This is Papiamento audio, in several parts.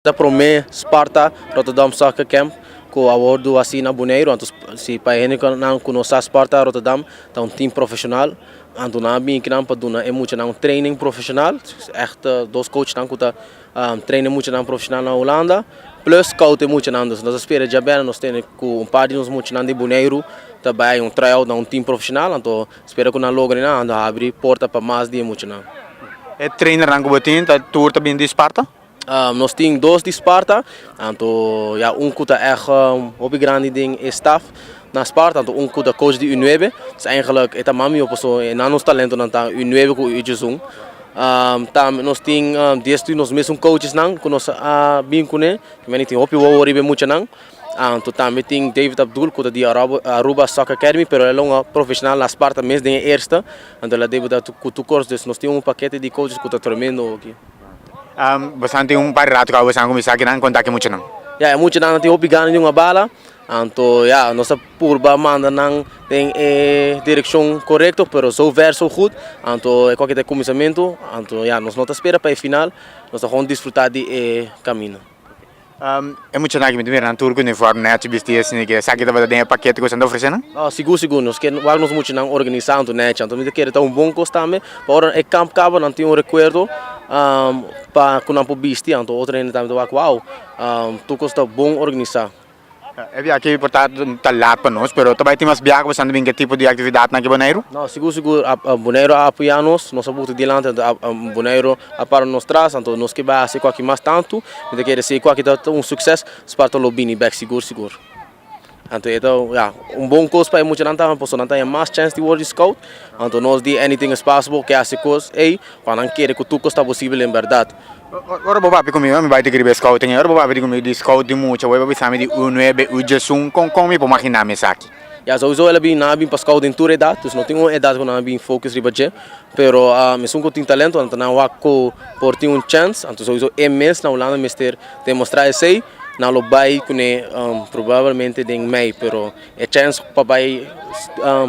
Ta prome Sparta Rotterdam Soccer Camp cu a wordo haci na Boneiru anto si pa e hendenan cu no sa Sparta Rotterdam ta un team profesional anto nan a bini kinan pa duna e muchanan un training profesional echte dos coachnan cu ta train e muchanan profesional na Holanda plus scout e muchanan dus nos a spera djabel nos tene cu un par di nos muchanan di Boneiru ta bay un tryout na un team profesional anto Spera ku nan logo den e ando a habri porta pa mas di e muchanan. E trainernan ku bo tin ta tur ta bini di Sparta? Nos tin dos di Sparta, tantu ya un ku ta ègt hopi grandi den e staf na Sparta, tantu un ku ta coach di U nuebe. Pues eigenlijk e ta mas mihó paso e nan nos talentonan ta U nuebe ku U diezun. Tambe nos tin dies di nos mesun coachesnan ku nos a bin kuné. Mi a tin hopi wowo riba e muchanan. Anto tambe tin David Abdul cu ta di Aruba Soccer Academy pero el a un profesional na Sparta mes den e eerste anto el a debuta cu tur cors dus nos tin un pakete di coaches cu ta tremendo aki. Bosan tin un par rato cu bosan a cuminsa kinan conta cu e muchanan? Ya e muchanan a tin hopi gana di un a bala anto ya nos ta purba manda nan den e direccion corecto pero so ver so good anto e cu aki ta e cuminsamento anto ya nos no ta spera pa e final nos ta gewoon disfruta di e camino. E muchanan aki mi ta mira nan tur ku uniform nechi bisti esei ke esaki tabata den e paket ku esnan ta ofrese nan? Oh sigur sigur nos ke wak nos muchanan organisa anto nechi anto mi ta kere ta un bon kos tambe pa ora e kamp kaba nan tin un rekuerdo pa ku nan por bisti anto otro hende tambe ta wak wou tur kos ta bon organisa. E biaha aki por ta ta lat pa nos pero ta bai tin mas biaha ku bastante bin ke tipo di aktividatnan ke Boneiru? No, sigur sigur Boneiru a apoya nos, nos a butu dilanti anto Boneiru a para nos tras anto nos ke bai hasi ku aki mas tantu mi ta kere si ku aki ta un sukses Sparta ta lo bini bek sigur sigur anto e ta ya un bon kos pa e muchanan tambe pasobra nan ta haña mas chèns di wòrdu scout anto nos di anything is possible ke hasi kos ei Pa nan kere ku tur kos ta posibel den bèrdat. Ora bo papia ku mi, ora mi bai ta kiribé Scouting ei, ora bo papia di ku mi di Scout di mucha, bo bai bisami di u nuebe, u diesun, kon kon mi por magina mi esaki? Ya, souso el a bin, nan a bin pa Scout den tur edat, dus no tin un edat ku nan a bin focus riba dje, pero esun ku tin talento anto nan wak ku por tin un chèns, anto souso e mes na Hulanda mester demostrá esei, nan lo bai kuné probablemente den mei, pero E chèns pa bai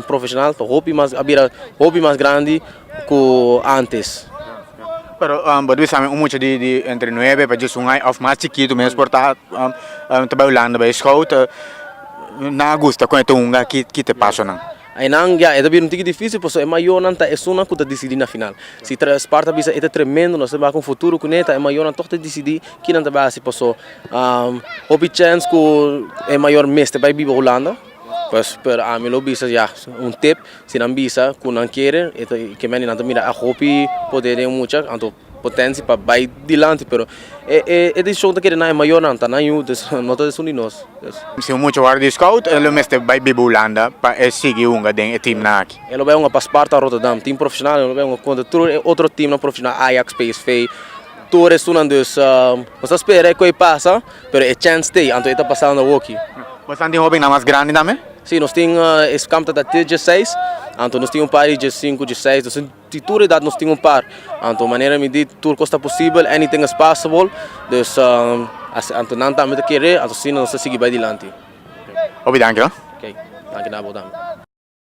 profeshonal ta hopi mas a bira hopi mas grandi ku ántes. Pero bo dibi sa mi un mucha di entre nuebe pa djis un aña òf mas chikitu mes por ta ta bai Hulanda bai skout nan a gusta kon e ta hunga aki ki ta e pasonan? Einan ya e ta bira un tiki difísil pasobra e mayornan ta esunnan ku ta disidí na final si Spar ta bisa e ta tremendo nos ta bai ku un futuro kuné ta e mayornan tòg ta disidí kinan ta bai hasi pasobra. Hopi chèns ku e mayor mester bai biba Hulanda, pues pero ami lo bisa ya un tip si nan bisa ku nan kere e ta ke mene nan ta mira a hopi poder den e mucha anto potensi pa bai dilanti pero e e e decision ta kere na e mayornan ta nan yu dus no ta esun di nos pues. Si un mucha wòrdu scout e lo mester bai biba Hulanda pa e sigui hunga den e teamnan aki. E lo bai hunga pa Sparta Rotterdam, team profesional, e lo bai hunga kontra tur e otro teamnan profesional Ajax, psv. Tur esunnan dus nos ta spera e koe pasa pero e chance t'ey anto e ta pasa unda hoki. Bosan tin hobennan mas grandi tambe? Si, nos tin e kamp ta ta te dieseis anto nos tin un par di diesinku, diesseis nos tin di tur edat nos tin un par anto manera mi di tur kos ta posibel anything is possible dus anto nan tambe ta kere anto asina nos ta sigui bay dilanti. Hopi danki hoor. Ok, danki na abo tambe.